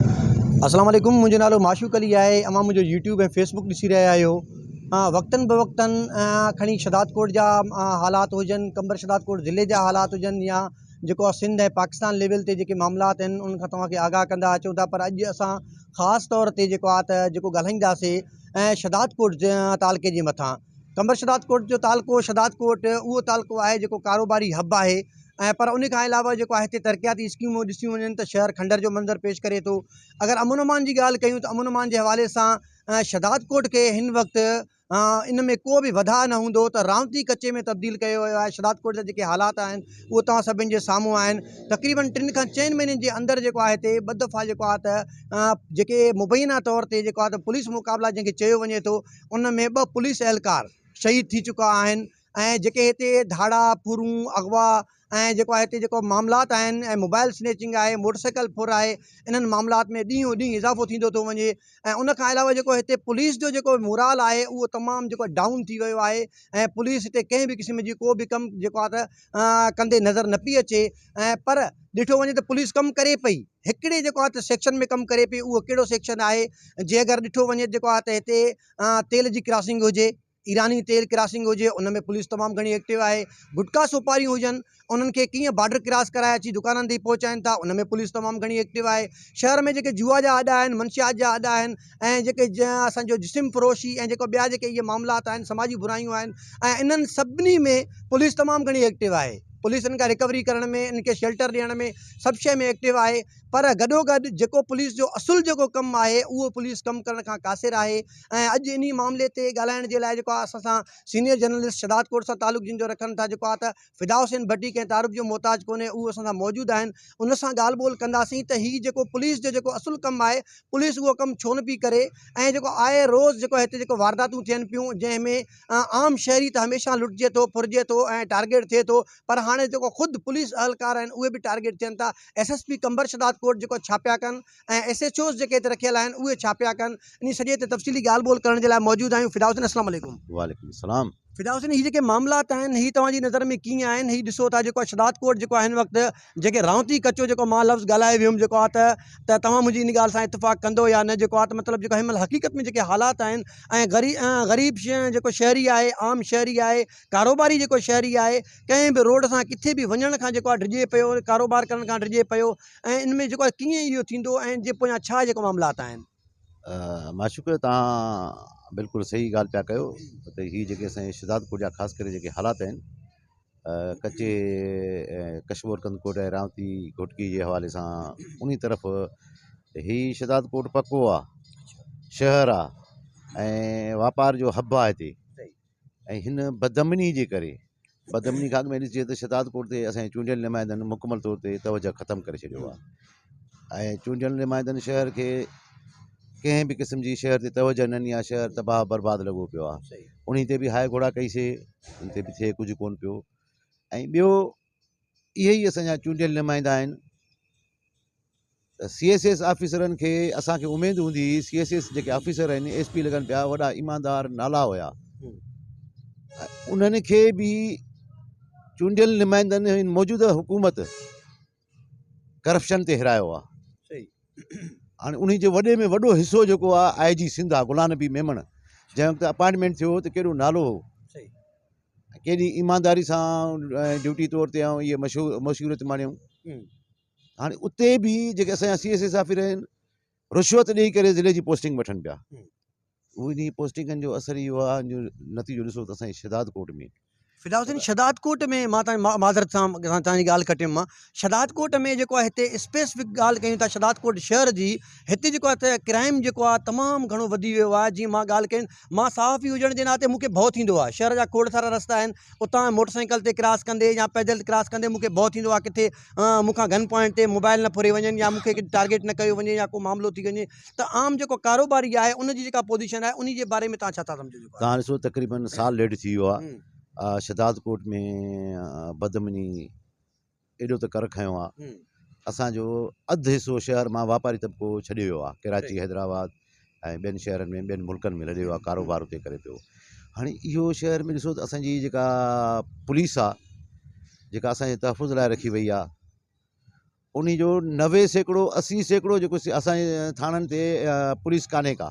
السلام عليڪم منهنجو نالو معشوق علي آهي اوهان منهنجو يوٽيوب ۽ فيسبڪ ڏسي رهيا آهيو وقتن بوقتن کڻي شھداد ڪوٽ جا حالات هجن قمبر شھداد ڪوٽ ضلعي جا حالات هجن يا جيڪو آ سنڌ ۽ پاڪستان ليول تي جيڪي معاملات آهن ان کان توهان کي آگاهه ڪندا اچون ٿا پر اڄ اسان خاص طور تي جيڪو آ ته جيڪو ڳالهائينداسي شھداد ڪوٽ تعلقي جي مٿان قمبر شھدادڪوٽ جو تعلقو شھدادڪوٽ اھو تعلقو آھي جيڪو ڪاروباري ھب آھي ۽ پر ان کان علاوه جيڪو آھي ھتي ترقياتي اسڪيمون ڏسيون وڃن ته شھر کنڊر جو منظر پيش ڪري ٿو اگر امن امان جي ڳالھ ڪيون ته امن امان جي حوالي سان شھدادڪوٽ کي ھن وقت ان ۾ ڪو به وڌاء نه ھوندو ته راونتي ڪچي ۾ تبديل ڪيو ويو آھي شھدادڪوٽ جا جيڪي حالات آھن اھو توھان سڀن جي سامھون آھن تقريبن ٽن کان چئن مھينن جي اندر جيڪو آھي ھتي ٻه دفعا جيڪو آھي ته جيڪي مبينا طور تي جيڪو آھي ته پوليس مقابلا جنھن کي چيو وڃي ٿو ان ۾ ٻه پوليس اهلڪار شهيد ٿي چڪا آهن ۽ جيڪي هتي ڌاڙا ڦرون اغوا ۽ جيڪو آهي هتي جيڪو معاملات آهن ۽ موبائل سنيچنگ آهي موٽر سائيڪل ڦر آهي انهن معاملات ۾ ڏينهون ڏينهن اضافو ٿيندو ٿو وڃي ۽ ان کان علاوه جيڪو هتي پوليس جو جيڪو مورال آهي اهو تمام جيڪو ڊائون ٿي ويو آهي ۽ پوليس هتي ڪنهن به قسم جي ڪو به ڪم جيڪو آهي ته ڪندي نظر نه پئي اچي ۽ پر ڏٺو وڃي ته پوليس ڪم ڪري پئي هڪڙي جيڪو آهي ته سيڪشن ۾ ڪم ڪري پئي اهو ڪهڙو سيڪشن آهي جي اگر ڏٺو وڃي جيڪو آهي ته هتي تيل جي ڪراسنگ هجي ايراني تيل ڪراسنگ هجي ان ۾ پوليس تمام گهڻي ايڪٽو آهي گٽڪا سوپاريون هجن انهن کي ڪيئن بارڊر ڪراس ڪرائي اچي دڪانن تي پهچائين ٿا ان ۾ پوليس تمام گهڻي ايڪٽو آهي شهر ۾ جيڪي جوا جا اڏا آهن منشيات جا اڏا آهن ۽ جيڪي اسان جو جسم فروشي ۽ جيڪو ٻيا جيڪي اهي معاملات آهن سماجي برايون آهن ۽ انهن سڀني ۾ پوليس تمام گهڻي ايڪٽو آهي پوليس ان کان رڪوري ڪرڻ ۾ ان کي شيلٽر ڏيڻ ۾ سڀ شيء ۾ ايڪٽو آهي پر گڏو گڏ جيڪو پوليس جو اصل جيڪو ڪم آهي اهو پوليس ڪم ڪرڻ کان قاصر آهي ۽ اڄ انهي معاملي تي ڳالهائڻ جي لاء جيڪو آهي اسان سان سينيئر جرنلسٽ شهداد ڪوٽ سان تعلق جن جو رکن ٿا جيڪو آهي ته فدا حسين ڀٽي ڪنهن تعارف جو محتاج ڪونهي اهو اسان سان موجود آهن ان سان ڳالهه ٻولهه ڪنداسين ته هي جيڪو پوليس جو جيڪو اصل ڪم آهي پوليس اهو ڪم ڇو نه پئي ڪري ۽ جيڪو آئي روز جيڪو هتي جيڪو وارداتون ٿين پيون جنهن ۾ عام شهري ته هميشه لٽجي ٿو ڦرجي ٿو ۽ ٽارگيٽ ٿئي ٿو پر هاڻي جيڪو خود پوليس اهلڪار آهن اهي به ٽارگيٽ ٿين ٿا S S P Qambar Shahdadkot جيڪو ڇا پيا ڪن ۽ ايس ايچ اوز جيڪي هتي رکيل آهن اهي ڇا پيا ڪن ان سڄي تي تفصيلي ڳالهه ٻولهه ڪرڻ جي لاء موجود آهيون فدا حسين اسلام عليڪم وعليڪم السلام فدا حسين هي جيڪي معاملات آهن هي توهان جي نظر ۾ ڪيئن آهن هي ڏسو ٿا جيڪو شداد ڪوٽ جيڪو آهي هن وقت جيڪي رهونتي ڪچو جيڪو مان لفظ ڳالهائي ويم جيڪو آ ته ته توهان منهنجي ان ڳالهه سان اتفاق ڪندو يا نه جيڪو آ ته مطلب جيڪو هن مهل حقيقت ۾ جيڪي حالات آهن ۽ غري غريب جيڪو شهري آهي عام شهري آهي ڪاروباري جيڪو شهري آهي ڪنهن به روڊ سان ڪٿي به وڃڻ کان جيڪو آ ڊڄي پيو ڪاروبار ڪرڻ کان ڊڄي پيو ۽ ان ۾ جيڪو آ ڪيئن اهو ٿيندو ۽ جي پويان ڇا جيڪو معاملات آهن معشوق تهان بلڪل صحيح ڳالھ پيا ڪيو ته هي جيڪي اسانجي شھدادپور جا خاص ڪري جيڪي حالات آهن ڪچي ڪشمور ڪنڌڪوٽ ۽ رامتي گھوٽڪي جي حوالي سان انهي طرف هي شھدادپور پڪو آ شهر آ ۽ واپار جو حب آ هتي ۽ هن بدامنيء جي ڪري بدامنيء کان اڳ ۾ ڏسجي ته شهداد ڪوٽ تي اسان جي چونڊيل نمائندن مڪمل طور تي توجهه ختم ڪري ڇڏيو آهي ۽ چونڊيل نمائندن شهر کي ڪنهن به قسم جي شهر تي توجهه نه ڏني آهي شهر تباهه برباد لڳو پيو آهي انهي تي به هاء گهوڙا ڪئيسي ان تي به ٿئي ڪجهه ڪونه پيو ۽ ٻيو اهي ئي اسان جا چونڊيل نمائندا آهن ته سي ايس ايس آفيسرن کي اسان کي اميد هوندي هئي سي ايس ايس جيڪي آفيسر آهن ايس پي لڳن پيا وڏا ايماندار نالا هيا انهن کي به چونڊيل نمائندن هن موجوده حڪومت ڪرپشن تي هرايو آ صحيح هاڻي انهي جي وڏي ۾ وڏو حصو جيڪو آ آء جي سنڌ آ غلام نبي ميمڻ جنهن وقت اپائنٽمينٽ ٿيو ته ڪيڏو نالو هو ڪيڏي ايمانداري سان ڊيوٽي طور تي آئون اهي مشهور مشهوريت ماڻيون هاڻي اتي به جيڪي اسان سی ايس اي صافي رهن رشوت ڏيئي ڪري ضلعي جي پوسٽنگ وٺن پيا ان جي پوسٽنگن جو اثر اهو آ جو نتيجو ڏسو ته اسان جي شهداد ڪوٽ ۾ فدا حسين شهداد ڪوٽ ۾ مان تان معذرت سان تان جي ڳالهه کٽيم مان شھداد ڪوٽ ۾ جيڪو آھي ھتي اسپيسفڪ ڳالھ ڪيون ٿا شھداد ڪوٽ شھر جي ھتي جيڪو آھي ته ڪرائم جيڪو آھي تمام گھڻو وڌي ويو آھي جيئن مان ڳالھ ڪئي مان صحافي ھجڻ جي ناتي مونکي ڀئو ٿيندو آھي شھر جا کوڙ سارا رستا آھن اتان موٽر سائيڪل تي ڪراس ڪندي يا پيدل ڪراس ڪندي مونکي ڀئو ٿيندو آھي ڪٿي مونکان گن پوائنٽ تي موبائل نه ڦري وڃن يا مونکي ڪجھ ٽارگيٽ نه ڪيو وڃي يا ڪو معاملو ٿي وڃي ته عام جيڪو ڪاروباري آھي ان جي جيڪا پوزيشن آھي انھي جي باري ۾ تھان ڇا ٿا سمجھو جيڪو تھان ڏسو تقريبن سال ڏيڍ ٿي ويو آھي شھداد ڪوٽ ۾ بدامني ايڏو ته ڪر کنيو آ اسان جو اڌ حصو شهر مان واپاري طبقو ڇڏي ويو آ ڪراچي حيدرآباد ۽ ٻين شهرن ۾ ٻين ملڪن ۾ لڏي ويو آ ڪاروبار اتي ڪري پيو هاڻي اهو شهر ۾ ڏسو ته اسان جي جيڪا پوليس آ جيڪا اسان جي تحفظ لاء رکي وئي آ انهي جو نوي سيڪڙو اسي سيڪڙو جيڪو اسان جي ٿاڻن تي پوليس ڪانهي ڪا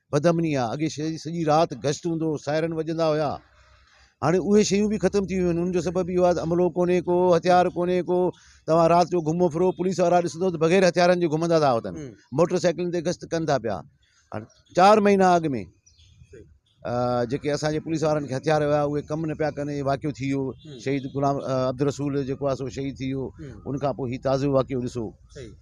بدامني آ، اڳي شھر جي سڄي رات گشت ھوندو ھو، سائرن وڄندا ھيا، ھاڻي اھي شيون به ختم ٿي ويون آھن، ان جو سبب اھو آھي ته عملو ڪونھي ڪو، ھٿيار ڪونھي ڪو، توھان رات جو گھمو ڦرو، پوليس وارا ڏسندو ته بغير ھٿيارن جي گھمندا ٿا اتن، موٽر سائيڪلن تي گشت ڪن ٿا پيا، ھاڻي چار مھينا اڳ ۾ جيڪي اسان جي پوليس وارن کي ھٿيار ھيا اھي ڪم نه پيا ڪن، اھي واقعو ٿي ويو، شھيد غلام عبدالرسول جيڪو آھي سو شھيد ٿي ويو، ان کان پوء ھي تازو واقعو ڏسو.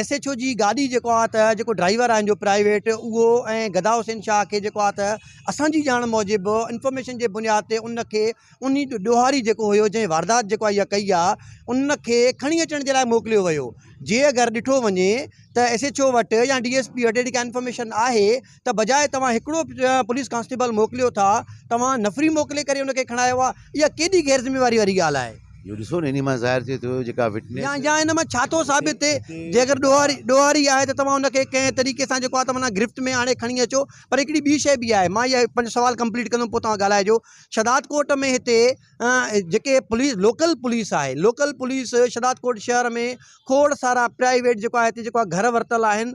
ايس ايڇ او جي گاڏي جيڪو آ ته جيڪو ڊرائيور آهن جو پرائيويٽ اهو ۽ گدا حسين شاهه کي جيڪو آ ته اسانجي ڄاڻ موجب انفارميشن جي بنياد تي ان کي ان ڏوهاري جيڪو هيو جنهن واردات جيڪو اها ڪئي آ ان کي کڻي اچڻ جي لاء موڪليو ويو جي اگر ڏٺو وڃي ته ايس ايڇ او وٽ يا ڊي ايس پي وٽ اهڙي ڪا انفارميشن آهي ته بجاء توهان هڪڙو پوليس ڪانسٽيبل موڪليو ٿا توهان نفري موڪلي ڪري ان کي کڻايو آهي اها ڪيڏي غير ذميواري واري ڳالهه آهي. اهو ڏسو نه انهي مان ظاهر ٿئي ٿو جيڪا وٽنيس. يا ان مان ڇا ٿو ثابت ٿئي جي اگر ڏوهاري ڏوهاري آهي ته توهان ان کي ڪنهن طريقي سان جيڪو آهي توهان گرفت ۾ آڻي کڻي اچو پر هڪڙي ٻي شئي به آهي مان اها پنهنجو سوال ڪمپليٽ ڪندم پوء توهان ڳالهائجو شھداد ڪوٽ ۾ هتي جيڪي پوليس لوڪل پوليس آهي لوڪل پوليس شھداد ڪوٽ شهر ۾ کوڙ سارا پرائيويٽ جيڪو آهي هتي جيڪو آهي گهر ورتل آهن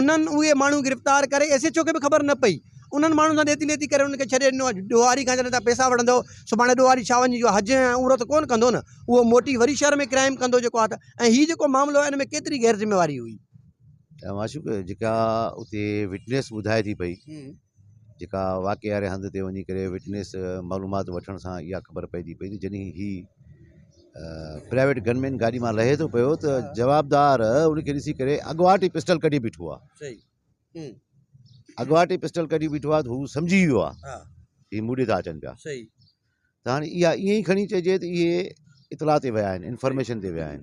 انهن اهي ماڻهو گرفتار ڪري ايس ايڇ او کي به خبر نه پئي انهن ماڻهن سان ڏيتي ليتي ڪري انهن کي ڇڏي ڏنو اڄ ڏوهاري کان جڏهن تهان پئسا وٺندؤ سڀاڻي ڏوهاري ڇا وڃي جو حج ۽ عمرو ته ڪونه ڪندو نه اهو موٽي وري شهر ۾ ڪرائيم ڪندو جيڪو آ ته ۽ هي جيڪو معاملو آ ان ۾ ڪيتري غير ذميواري هئي. ته معشوق جيڪا اتي وٽنيس ٻڌائي ٿي پئي جيڪا واقعي واري هنڌ تي وڃي ڪري وٽنيس معلومات وٺڻ سان اها خبر پئجي پئي ته جڏهن هي پرائيويٽ گن مين گاڏي مان لهي ٿو پيو ته جوابدار ان کي ڏسي ڪري اڳواٽ ئي پسٽل ڪڍي بيٺو آهي اڳواٽ ئي پسٽل ڪڍي بيٺو آهي ته هو سمجهي ويو آهي هي مون ڏي ٿا اچن پيا ته هاڻي اها ائين ئي کڻي چئجي ته اهي اطلاع تي ويا آهن انفارميشن تي ويا آهن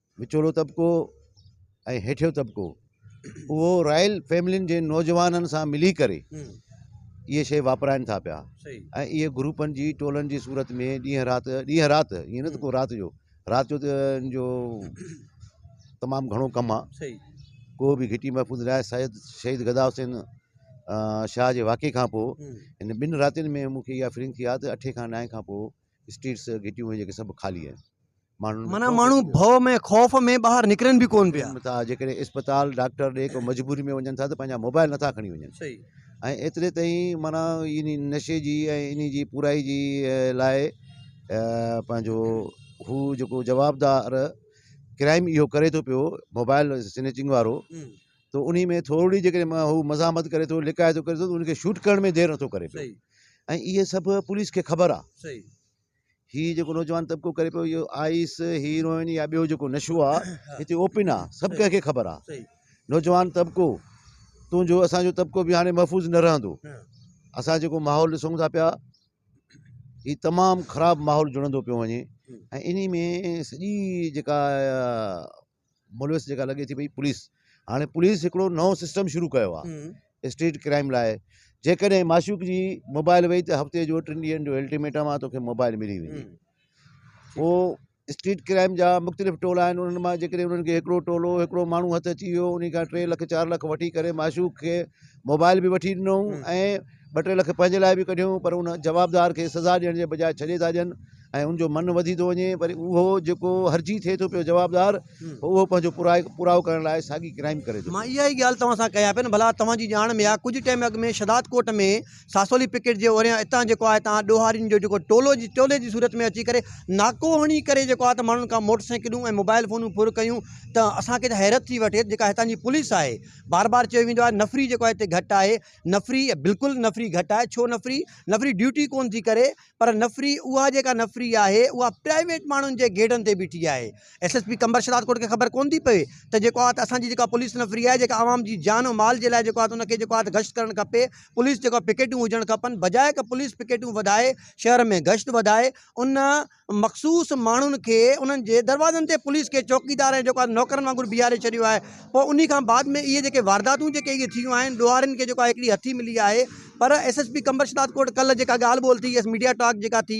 وچولو طبقو ۽ هيٺيون طبقو اهو رائل فيملين جي نوجوانن سان ملي ڪري اهي شي واپرائن ٿا پيا ۽ اهي گروپن جي ٽولن جي صورت ۾ ڏينهن رات ڏينهن رات ائين نه ته ڪو رات جو رات جو ته ان جو تمام گهڻو ڪم آهي ڪو به گهٽي محفوظ نه آهي سيد شهيد گدا حسين شاهه جي واقعي کان پوء ان ٻن راتين ۾ مونکي اها فيلنگ ٿي آهي ته اٺين کان نائين کان پوء اسٽريٽس گهٽيون اهي جيڪي سڀ خالي آهن ماڻهن معنيٰ ماڻهو ڀؤ ۾ خوف ۾ ٻاهر نڪرن به ڪون پيا ٿا جيڪڏهن اسپتال ڊاڪٽر ڏي ڪو مجبوري ۾ وڃن ٿا ته پنهنجا موبائل نٿا کڻي وڃن ۽ ايتري تائين معنيٰ ان نشي جي ۽ ان جي پورائي جي لاء پنهنجو هو جيڪو جوابدار ڪرائم اهو ڪري ٿو پيو موبائل سنيچنگ وارو ته انهي ۾ ٿورڙي جيڪڏهن هو مزاحمت ڪري ٿو لڪائي ٿو ڪري ٿو ته ان کي شوٽ ڪرڻ ۾ دير نٿو ڪري پيو ۽ اهي سڀ پوليس کي خبر آهي هي جيڪو نوجوان طبقو ڪري پيو اهو آئيس هيروئن يا ٻيو جيڪو نشو آهي هتي اوپن آهي سڀ ڪنهن کي خبر آهي نوجوان طبقو تنهنجو اسان جو طبقو به هاڻي محفوظ نه رهندو اسان جيڪو ماحول ڏسون ٿا پيا هي تمام خراب ماحول جڙندو پيو وڃي ۽ انهي ۾ سڄي جيڪا ملوث جيڪا لڳي ٿي پئي پوليس هاڻي پوليس هڪڙو نئون سسٽم شروع ڪيو آهي اسٽريٽ ڪرائيم لاء جيڪڏهن معشوق جي موبائل وئي ته هفتي جو ٽن ڏينهن جو الٽيميٽم آهي توکي موبائل ملي ويندي پوء اسٽريٽ ڪرائيم جا مختلف ٽولا آهن انهن مان جيڪڏهن انهن کي هڪڙو ٽولو هڪڙو ماڻهو هٿ اچي ويو ان کان ٽي لک چار لک وٺي ڪري معشوق کي موبائل به وٺي ڏنو ۽ ٻه ٽي لک پنهنجي لاء به ڪڍيو پر ان جوابدار کي سزا ڏيڻ جي بجاء ڇڏي ٿا ڏين ۽ ان جو من وڌي ٿو وڃي وري اهو جيڪو هرجي ٿئي ٿو پيو جوابدار اهو پنهنجو پورائو ڪرڻ لاء ساڳي ڪرائيم ڪري ٿو پيو. مان اها ئي ڳالهه توهان سان ڪيان پيو نه ڀلا توهان جي ڄاڻ ۾ آ ڪجهه ٽيم اڳ ۾ شهداد ڪوٽ ۾ ساسولي پڪيٽ جي اوريان اتان جيڪو آهي تان ڏوهارين جو جيڪو ٽولو جي ٽولي جي صورت ۾ اچي ڪري ناڪو هڻي ڪري جيڪو آهي ته ماڻهن کان موٽر سائيڪلون ۽ موبائل فونون ڦر ڪيون ته اسان کي ته حيرت ٿي وٺي جيڪا هتان جي پوليس آهي بار بار چيو ويندو آهي نفري جيڪو آهي هتي گهٽ آهي نفري بلڪل نفري گهٽ آهي ڇو نفري نفري ڊيوٽي ڪون ٿي ڪري پر نفري اها جيڪا نفري آهي اها پرائيويٽ ماڻهن جي گيڊن تي بيٺي آهي S S P Qambar Shahdadkot کي خبر ڪون ٿي پوي ته جيڪو آهي ته اسان جي جيڪا پوليس نفري آهي جيڪا عوام جي جان ۽ مال جي لاء جيڪو آهي ته ان کي جيڪو آهي ته گشت ڪرڻ کپي پوليس جيڪو آهي پڪيٽون هجڻ کپن بجاء ته پوليس پڪيٽون وڌائي شهر ۾ گشت وڌائي ان مخصوص ماڻهن کي انهن جي دروازن تي پوليس کي چوڪيدار ۽ جيڪو آهي نوڪرن وانگر بيهاري ڇڏيو آهي پوء انهي کان بعد ۾ اهي جيڪي وارداتون جيڪي اهي ٿيون آهن ڏوهارين کي جيڪو آهي هڪڙي هٿي ملي آهي پر S S P Qambar Shahdadkot ڪلهه جيڪا ڳالهه ٻولهه ٿي يس ميڊيا ٽاڪ جيڪا ٿي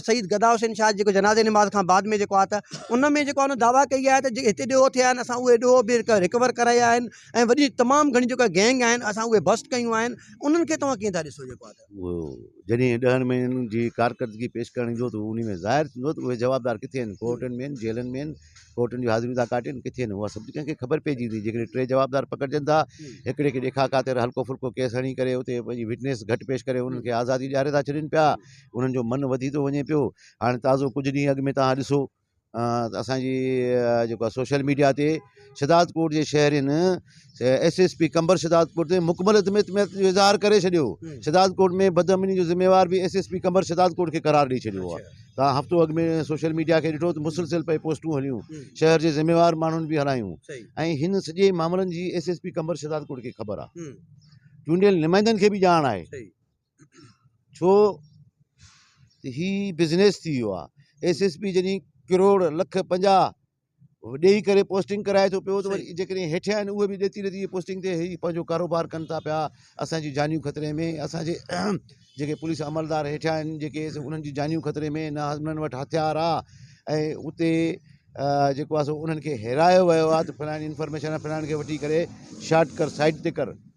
شهيد گدا حسين شاهه جيڪو جنازي نماز کان بعد ۾ جيڪو آهي ته ان ۾ جيڪو آهي دعويٰ ڪئي آهي ته جي هتي ڏوهه ٿيا آهن اسان اهي ڏوهه به رڪور ڪرايا آهن ۽ وڏي تمام گهڻي جيڪا گينگ آهن اسان اهي بسٽ ڪيون آهن انهن کي توهان ڪيئن ٿا ڏسو جيڪو آهي ته اهو جڏهن ڏهن مهينن جي ڪارڪردگي پيش ڪرڻ ايندو ته انهي ۾ ظاهر ٿيندو ته اهي جوابدار ڪٿي آهن ڪورٽن ۾ آهن جيلن ۾ آهن ڪورٽن جون حاضريون ٿا ڪاٽين ڪٿي نه اها سڀ ڪنهن کي خبر پئجي ويندي جيڪڏهن ٽي جوابدار پڪڙجن ٿا هڪڙي کي ڏيکاء خاطر هلڪو ڦلڪو ڪيس هڻي ڪري اتي پنهنجي وٽنيس گهٽ پيش ڪري انهن کي آزادي ڏياري ٿا ڇڏين پيا انهن جو من وڌي ٿو وڃي پيو هاڻي تازو ڪجهه ڏينهن اڳ ۾ توهان ڏسو ته اسانجي جيڪو سوشل ميڊيا تي شھدادڪوٽ جي شهرين S S P Qambar Shahdadkot تي مڪمل عدم اعتماد جو اظھار ڪري ڇڏيو، شھدادڪوٽ ۾ بدامني جو ذميوار به S S P Qambar Shahdadkot کي قرار ڏئي ڇڏيو آھي، توھان ھفتو اڳ ۾ سوشل ميڊيا کي ڏٺو ته مسلسل پئي پوسٽون ھليون، شھر جي ذميوار ماڻھن به ھلايون ۽ ھن سڄي معاملن جي S S P Qambar Shahdadkot کي خبر آھي، چونڊيل نمائندن کي به ڄاڻ آھي، ڇو ته ھي بزنس ٿي ويو آھي، ايس ايس پي جڏھن ڪروڙ لک پنجاھ. ڏيئي ڪري پوسٽنگ ڪرائي ٿو پيو ته وري جيڪڏهن هيٺيان آهن اهي به ڏتي ڏتي پوسٽنگ تي هي پنهنجو ڪاروبار ڪن ٿا پيا اسان جون جانيون خطري ۾ اسان جي جيڪي پوليس عملدار هيٺيان آهن جيڪي انهن جون جانيون خطري ۾ نه انهن وٽ هٿيار آ ۽ اتي جيڪو آ سو انهن کي هيرايو ويو آ ته فلاڻي انفارميشن آ فلاڻي کي وٺي ڪري شارٽ ڪر سائيٽ تي ڪر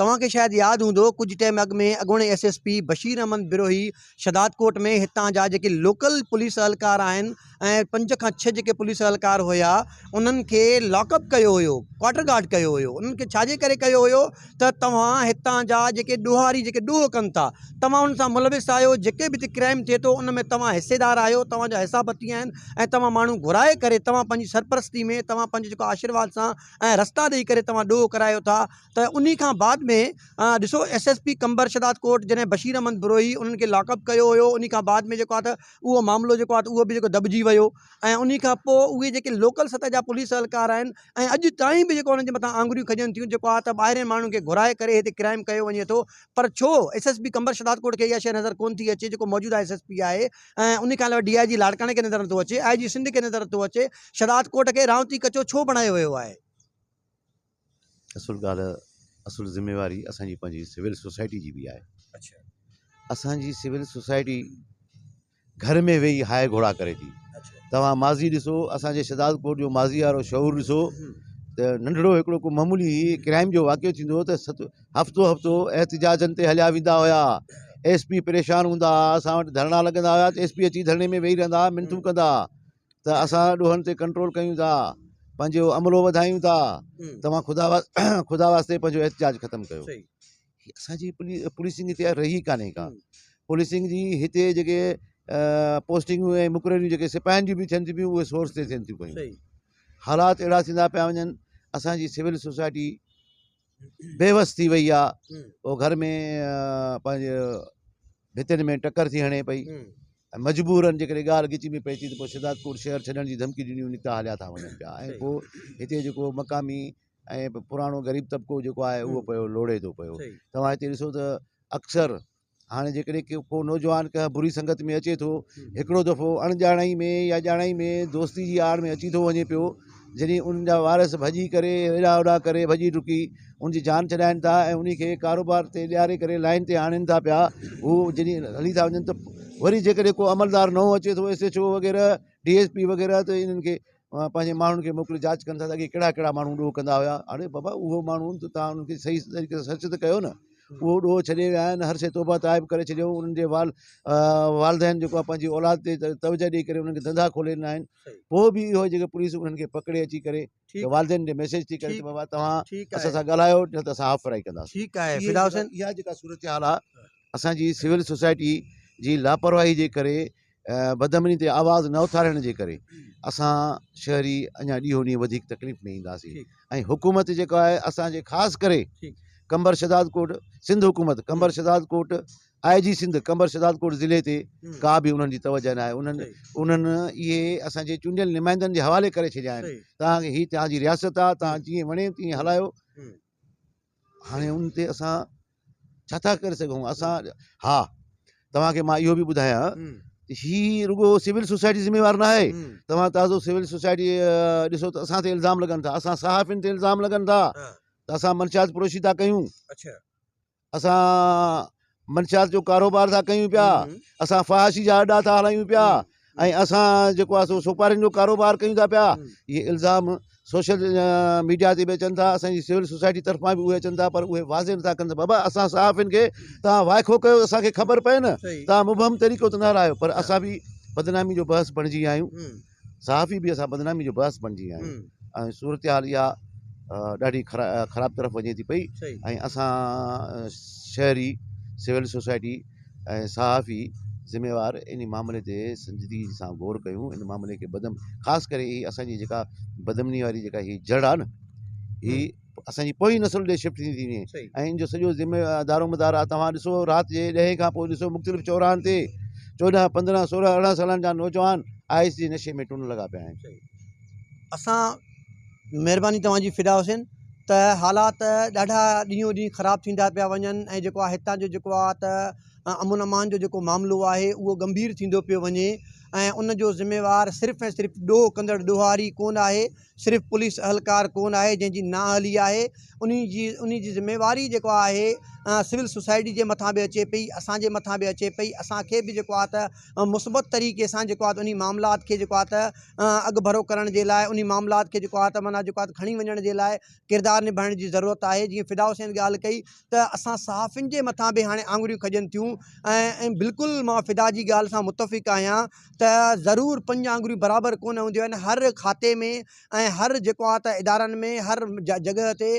توهان کي شايد ياد هوندو ڪجهه ٽيم اڳ ۾ اڳوڻي S S P Bashir Ahmed Brohi Shahdadkot ۾ هتان جا جيڪي لوڪل پوليس اھلڪار آھن ۽ پنج کان ڇھ جيڪي پوليس اھلڪار هيا انهن کي لاڪ اپ ڪيو هيو ڪواٽر گارڊ ڪيو هيو انهن کي ڇا جي ڪري ڪيو هيو ته توهان هتان جا جيڪي ڏوهاري جيڪي ڏوھ ڪن ٿا توهان انهن سان ملوث آھيو جيڪي به هتي ڪرائيم ٿئي ٿو ان ۾ توهان حصيدار آھيو توهان جا حصا بتي آھن ۽ توهان ماڻهو گهرائي ڪري توهان پنهنجي سرپرستي ۾ توهان پنهنجو جيڪو آشرواد سان ۽ رستا ڏئي ڪري توهان ڏوھ ڪرايو ٿا ته انهي کان بعد ۾ ڏسو S S P Qambar Shahdadkot جڏهن بشير احمد بروهي انهن کي لاڪ اپ ڪيو هيو انهي کان بعد ۾ جيڪو آهي ته اهو معاملو جيڪو آهي ته اهو به جيڪو دٻجي ويو ۽ انهي کان پوء اهي جيڪي لوڪل سطح جا پوليس اهلڪار آهن ۽ اڄ تائين به جيڪو انهن جي مٿان آڱريون کڄن ٿيون جيڪو آهي ته ٻاهرين ماڻهن کي گهرائي ڪري هتي ڪرائيم ڪيو وڃي ٿو پر ڇو S S P Qambar Shahdadkot کي اها شيء نظر ڪونه ٿي اچي جيڪو موجوده ايس ايس پي آهي ۽ انهي کان علاوه ڊي آء جي لاڙڪاڻي کي نظر نٿو اچي آء جي سنڌ کي نظر نٿو اچي شهداد ڪوٽ کي رهاوتي ڪچو ڇو بڻايو ويو آهي. اصل ڳالهه اصل ذميواري اسان جي پنهنجي سول سوسائٽي جي بي آهي اڇا اسان جي سول سوسائٽي گهر ۾ ويهي هاء گهوڙا ڪري ٿي اڇا توهان ماضي ڏسو اسان جي شهداد ڪوٽ جو ماضي وارو شعور ڏسو هم ته ننڍڙو هڪڙو ڪو معمولي ڪرائم جو واقعو ٿيندو هو ته ست هفتو هفتو احتجاجن تي هليا ويندا هيا ايس پي پريشان هوندا هئا اسان وٽ ڌرڻا لڳندا هيا ته ايس پي اچي ڌرڻي ۾ ويهي رهندا هئا منٿون ڪندا هئا ته اسان ڏوهن تي ڪنٽرول ڪيون ٿا، پنهنجو عملو وڌايون ٿا، توهان خدا خدا واسطي پنهنجو احتجاج ختم ڪيو. هي اسان جي پوليسنگ هتي رهي ئي ڪانهي ڪا. پوليسنگ جي هتي جيڪي پوسٽنگون ۽ مقرريون جيڪي سپاهين جون به ٿين ٿيون پيون اهي سورس تي ٿين ٿيون پيون. حالات اهڙا ٿيندا پيا وڃن اسان جي سول سوسائٽي. بيوس ٿي وئي آ او گهر ۾ پنهنجي ڀتين ۾ ٽڪر ٿي هڻي پئي ۽ مجبورن جيڪڏهن ڳالهه ڳچ ۾ پئي ٿي ته پوء شهدادڪوٽ شهر ڇڏڻ جي ڌمڪي ڏني وڃي اتان هليا ٿا وڃن پيا ۽ پوء هتي جيڪو مقامي ۽ پراڻو غريب طبقو جيڪو آهي اهو پيو لوڙي ٿو پيو توهان هتي ڏسو ته اڪثر هاڻي جيڪڏهن ڪو نوجوان ڪنهن بري سنگت ۾ اچي ٿو هڪڙو دفعو اڻڄاڻائي ۾ يا ڄاڻائي ۾ دوستي جي آڙ ۾ اچي ٿو وڃي پيو جڏهن ان جا وارث ڀڄي ڪري هيڏانهن هوڏانهن ڪري ڀڄي ڊڪي ان جي جان ڇڏائين ٿا ۽ ان کي ڪاروبار تي ڏياري ڪري لائين تي آڻين ٿا پيا هو جڏهن هلي ٿا وڃن ته وري جيڪڏهن ڪو عملدار نئون اچي ٿو ايس ايڇ او وغيره ڊي ايس پي وغيره ته انهن کي پنهنجي ماڻهن کي موڪلي جاچ ڪن ٿا ته اڳي ڪهڙا ڪهڙا ماڻهو ڏوهه ڪندا هيا اڙي بابا اهو ماڻهو ته تان ان کي صحيح طريقي سان سرچ ته ڪيو نه اهو ڏوهه ڇڏي ويا آهن هر شيء توبه تائب ڪري ڇڏيو انهن جي وال والدين جيڪو آهي پنهنجي اولاد تي توجه ڏئي ڪري انهن کي ڌندا کولي ڏنا آهن پوء به اهو جيڪي پوليس انهن کي پڪڙي اچي ڪري والدين کي ميسيج ٿي ڪري ته بابا توهان اسان سان ڳالهايو نه ته اسان هاف فرائي ڪنداسين ٺيڪ آهي فدا حسين اها جيڪا صورتحال آهي اسان جي سول سوسائٽي جي لاپرواهي جي ڪري بدامني تي آواز نه اٿارڻ جي ڪري اسان شهري اڃا ڏينهون ڏينهن وڌيڪ تڪليف ۾ اينداسين ۽ حڪومت جيڪا آهي اسانجي خاص ڪري قمبر شهداد ڪوٽ سنڌ حڪومت قمبر شهداد ڪوٽ آء جي سنڌ قمبر شهداد ڪوٽ ضلعي تي ڪا به انهن جي توجه نه آهي انهن انهن اهي اسانجي چونڊيل نمائندن جي حوالي ڪري ڇڏيا آهن تان هي تان جي رياست آهي تان جيئن وڻي تيئن هلايو هاڻي ان تي اسان ڇا ٿا ڪري سگهون اسان ها توهان کي مان اهو به ٻڌايان هي رڳو سول سوسائٽي ذميوار نه آهي توهان تازو سول سوسائٽي ڏسو ته اسان تي الزام لڳن ٿا اسان صحافين تي الزام لڳن ٿا ته اسان منشيات پروشي ٿا ڪيون اسان منشيات جو ڪاروبار ٿا ڪيون پيا اسان فحاشي جا اڏا ٿا هلايون پيا ۽ اسان جيڪو آهي سو سوپارين جو ڪاروبار ڪيون ٿا پيا اهي الزام سوشل ميڊيا تي به اچن ٿا اسان جي سول سوسائٽي طرفان به اهي اچن ٿا پر اهي واضح نٿا ڪن ته بابا اسان صحافين کي تان وائکو ڪيو اسان کي خبر پئي نه تان مبهم طريقو ته نه هلايو پر اسان به بدنامي جو بحث بڻجي ويا آهيون صحافي به اسان بدنامي جو باعث بڻجي ويا آهيون ۽ صورتحال اها ڏاڍي خراب طرف وڃي ٿي پئي ۽ اسان شهري سول سوسائٽي ۽ صحافي ذميوار ان معاملي تي سنجيدگي سان غور ڪيون ان معاملي کي بدم خاص ڪري هي اسان جي جيڪا بدمني واري جيڪا هي جڙ آهي نه هي اسان جي پوئين نسل ڏي شفٽ ٿيندي وڃي ۽ ان جو سڄو ذمي دارو مدار آ توهان ڏسو رات جي ڏهين کان پوء ڏسو مختلف چوراهن تي چوڏهن پندرهن سورهن ارڙهن سالن جا نوجوان آئس جي نشي ۾ ٽن لڳا پيا آهن اسان مهرباني توهان جي فدا حسين ته حالات ڏاڍا ڏينهون ڏينهن خراب ٿيندا پيا وڃن ۽ جيڪو آ هتان جو جيڪو آ ته امن امان جو جيڪو معاملو آهي اهو ڳنڀير ٿيندو پيو وڃي ۽ ان جو ذميوار صرف ۽ صرف ڏوهه ڪندڙ ڏوهاري ڪونه آهي صرف پوليس اهلڪار ڪون آهي جنهن جي نااهلي آهي انهي جي انهي جي ذميواري جيڪو آهي سول سوسائٽي جي مٿان به اچي پئي اسان جي مٿان به اچي پئي اسان کي به جيڪو آهي ته مثبت طريقي سان جيڪو آهي انهي معاملات کي جيڪو آهي ته اڳڀرو ڪرڻ جي لاء انهي معاملات کي جيڪو آهي ته معنيٰ جيڪو آهي ته کڻي وڃڻ جي لاء ڪردار نڀائڻ جي ضرورت آهي جيئن فدا حسين ڳالهه ڪئي ته اسان صحافين جي مٿان به هاڻي آڱريون کڄن ٿيون ۽ بلڪل مان فدا جي ڳالهه سان متفق آهيان ته ضرور پنج آڱريون برابر ڪونه هونديون آهن هر کاتي ۾ ۽ هر جيڪو آهي ته ادارن ۾ هر جڳهه تي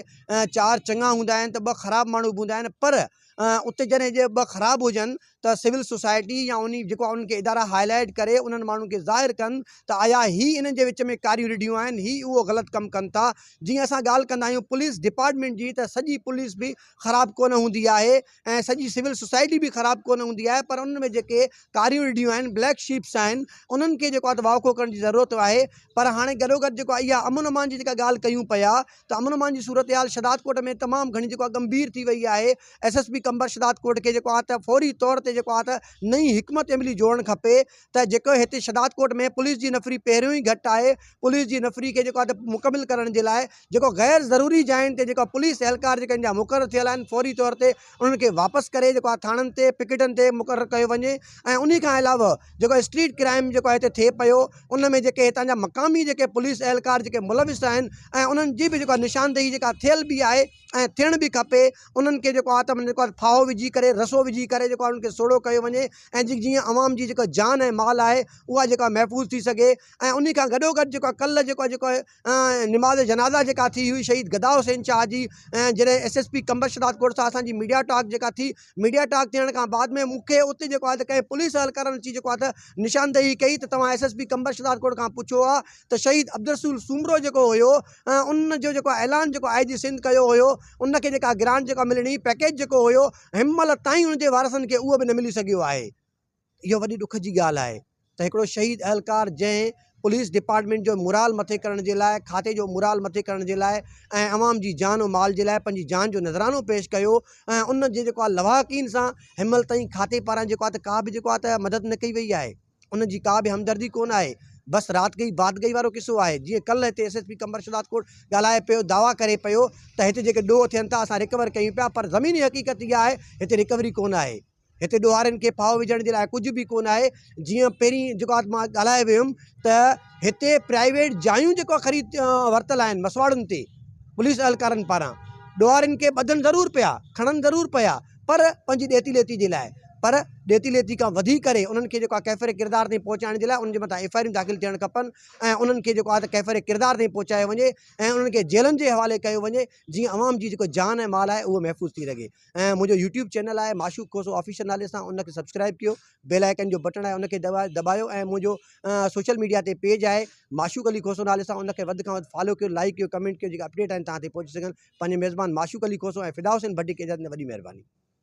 چار چڱا هوندا آهن ته ٻه خراب ماڻهو به هوندا آهن پر اتي جڏهن جي ٻه خراب هجن ته سول سوسائٽي يا انهي جيڪو انهن کي ادارا هائي لائيٽ ڪري انهن ماڻهن کي ظاهر ڪن ته ايا هي انهن جي وچ ۾ ڪاريون رڍيون آهن هي اهو غلط ڪم ڪن ٿا جيئن اسان ڳالهه ڪندا آهيون پوليس ڊپارٽمينٽ جي ته سڄي پوليس به خراب ڪونه هوندي آهي ۽ سڄي سول سوسائٽي به خراب ڪونه هوندي آهي پر انهن ۾ جيڪي ڪاريون رڍيون آهن بليڪ شيپس آهن انهن کي جيڪو آهي ته واکو ڪرڻ جي ضرورت آهي پر هاڻي گڏو گڏ جيڪو آهي اها امن امان جي جيڪا ڳالهه ڪيون پيا ته امن امان جي صورتحال شھدادڪوٽ ۾ تمام گھڻي جيڪو آهي گمڀير ٿي وئي آهي S S P Qambar Shahdadkot کي جيڪو آهي ته فوري طور تي جيڪو آهي ته نئين حڪمت عملي جوڙڻ کپي ته جيڪو هتي شهداد ڪوٽ ۾ پوليس جي نفري پهريون ئي گهٽ آهي پوليس جي نفري کي جيڪو آهي مڪمل ڪرڻ جي لاء جيڪو غير ضروري جاين تي جيڪو پوليس اهلڪار جيڪا ان جا مقرر ٿيل آهن فوري طور تي انهن کي واپس ڪري جيڪو آهي ٿاڻن تي پڪيٽن تي مقرر ڪيو وڃي ۽ انهي کان علاوه جيڪو اسٽريٽ ڪرائيم جيڪو آهي هتي ٿئي پيو ان ۾ جيڪي هتان جا مقامي جيڪي پوليس اهلڪار جيڪي ملوث آهن ۽ انهن جي به جيڪو آهي نشاندهي جيڪا ٿيل به آهي ۽ ٿيڻ به کپي انهن کي جيڪو آتم جيڪو آهي ڦاهو وجهي ڪري رسو وجهي ڪري جيڪو آهي انهن کي سوڙهو ڪيو وڃي ۽ جي جيئن عوام جي جيڪا جان ۽ مال آهي اها جيڪو آهي محفوظ ٿي سگهي ۽ انهي کان گڏو گڏ جيڪو آهي ڪلهه جيڪو آهي جيڪو آهي نماز جنازه جيڪا ٿي هئي شهيد گدا حسين شاهه جي ۽ جڏهن S S P Qambar Shahdadkot سان اسان جي ميڊيا ٽاڪ جيڪا ٿي ميڊيا ٽاڪ ٿيڻ کان بعد ۾ مون کي اتي جيڪو آهي ته ڪنهن پوليس اهلڪارن اچي جيڪو آهي ته نشاندهي ڪئي ته توهان S S P Qambar Shahdadkot کان پڇو ها ته شهيد عبدالرسول سومرو جيڪو هيو ان جو جيڪو اعلان جيڪو آء جي سنڌ ڪيو هيو ان کي جيڪا گرانٽ جيڪا ملڻي پيڪيج جيڪو هيو هن مهل تائين ان جي وارثن کي اهو به نه ملي سگهيو آهي اهو وڏي ڏک جي ڳالهه آهي ته هڪڙو شهيد اهلڪار جنهن پوليس ڊپارٽمينٽ جو مورال مٿي ڪرڻ جي لاء کاتي جو مورال مٿي ڪرڻ جي لاء ۽ عوام جي جان و مال جي لاء پنهنجي جان جو نذرانو پيش ڪيو ۽ ان جي جيڪو آهي لواحقين سان هن مهل تائين کاتي پاران جيڪو آهي ته ڪا به جيڪو آهي ته مدد نه ڪئي وئي آهي ان جي ڪا به همدردي ڪونه آهي بس رات گئي بات گئي وارو قصو آهي جيئن ڪلهه هتي S S P Qambar Shahdadkot ڳالهائي پيو دعويٰ ڪري پيو ته هتي جيڪي ڏوهه ٿين ٿا اسان ريڪور ڪيون پيا پر زميني حقيقت اها آهي هتي ريڪوري ڪونه آهي هتي ڏوهارين کي ڦاهو وجهڻ جي لاء ڪجهه به ڪونه آهي جيئن پهرين جيڪو آهي مان ڳالهائي ويو هيم ته هتي پرائيويٽ جايون جيڪو آهي خريد ورتل آهن مسواڙن تي پوليس اهلڪارن پاران ڏوهارين کي ٻڌن ضرور پيا کڻن ضرور پيا پر پنهنجي ڏيتي ليتي جي لاء پر ڏيتي ليتي کان وڌي ڪري انهن کي جيڪو آهي ڪيفر ڪردار تائين پهچائڻ جي لاء انهن جي مٿان ايف آء آرون داخل ٿيڻ کپن ۽ انهن کي جيڪو آهي ته ڪيفر ڪردار تائين پهچايو وڃي ۽ انهن کي جيلن جي حوالي ڪيو وڃي جيئن عوام جي جيڪو جان ۽ مال آهي اهو محفوظ ٿي رگهي ۽ منهنجو يوٽيوب چينل آهي معشوق کوسو آفيشل نالي سان ان کي سبسڪرائب ڪيو بيل آئيڪن جو بٽڻ آهي ان کي دٻايو ۽ منهنجو سوشل ميڊيا تي پيج آهي معشوق علي کوسو نالي سان ان کي وڌ کان وڌ فالو ڪيو لائڪ ڪيو ڪمينٽ ڪيو جيڪا اپڊيٽ آهن تان تي پهچي سگهن پنهنجي ميزبان معشوق علي کوسو ۽ فدا حسين ڀٽي کي اجازت ڏيندو وڏي مهرباني